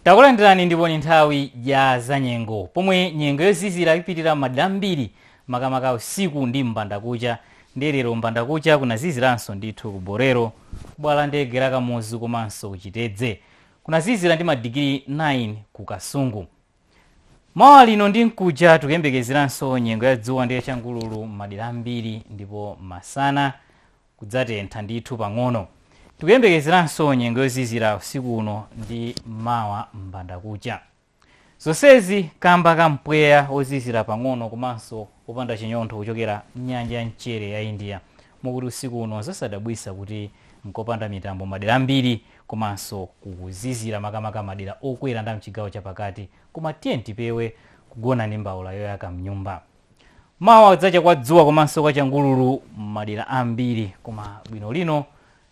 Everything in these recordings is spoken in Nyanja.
Takulandirani ndipo ni nthawi ya zanyengo pomwe nyengo yozizira ipitirira m'madera ambiri makamaka usiku ndi m'mbandakucha ndiye lero m'mbandakucha kunaziziranso ndithu ku Bolero, kubwalo la ndege la Kamuzu komanso ku Chitedze. Kunazizira ndi madigiri 9 ku Kasungu. Mawa lino ndi mkuja tikuyembekezeranso nyengo ya dzuwa ndi yachangululu m'madera ambiri ndipo masana kudzatentha ndithu pang'ono. Tikuyembekezeranso nyengo yozizira usiku uno ndi mawa m'mbandakucha. Zonsezi kamba ka mpweya wozizira pang'ono komanso wopanda chinyontho kuchokera m'nyanja ya mchere ya India. Mokuti usiku uno nzosadabwitsa kuti nkopanda mitambo madera ambiri komanso kukuzizira makamaka madera okwera ndi a mchigawo chapakati. Koma tiyeni tipewe kugona ndi mbaula yoyaka mnyumba. Mawa kudzacha kwa dzuwa komanso kwa changululu m'madera ambiri koma bwino lino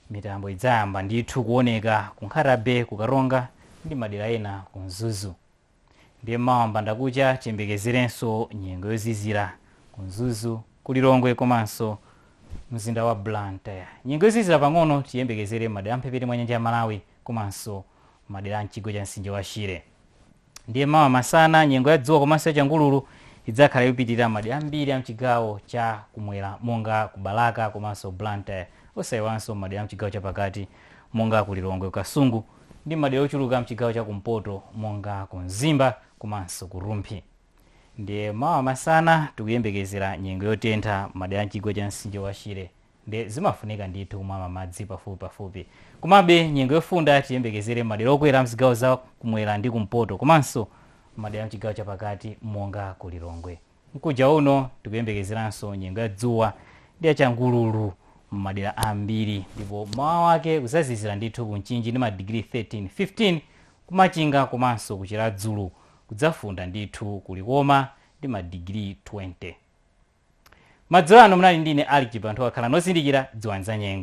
mitambo idzayamba ndithu kuoneka ku Nkhata-bay, ku Karonga ndi madera ena ku Mzuzu. Ndiye mawa mbandakucha tiyembekezerenso nyengo yozizira ku Mzuzu, ku Lilongwe komanso mzinda wa Blantyre. Nyengo yozizira pang'ono tiyembekezere m'madera a mphepete mwa nyanja ya Malawi komanso madera a mchigwa cha mtsinje wa Shire. Ndiye mawa masana, nyengo ya dzuwa komanso ya changululu idzakhala ikupitirira madera ambiri a mchigawo cha kumwera monga ku Balaka komanso Blantyre, osayiwalanso m'madera a mchigawo cha pakati monga ku Lilongwe, ku Kasungu ndi m'madera ochuluka a mchigawo cha kumpoto monga ku Mzimba komanso ku Rumphi. Ndiye mawa masana tikuyembekezera nyengo yotentha m'madera a mchigwa cha mtsinje wa Shire. nde zimafunika ndithu kumamwa madzi pafupi pafupi. Komabe nyengo yofunda tiyembekezere m'madera okwera amzigawo za kumwera ndi kumpoto komanso m'madera amchigawo chapakati monga ku Lilongwe. Mkuja uno tikuyembekezeranso nyengo ya dzuwa ndi ya changululu m'madera ambiri ndipo mawa wake kuzazizira ndithu ku Mchinji ndi madigiri 13, 15 ku Machinga komanso ku Chiradzulu kudzafunda ndithu ku Likoma ndi madigiri 20. Madzulo ano munali ndi ine Algipa, anthu akhala nozindikira, dziwani za nyengo.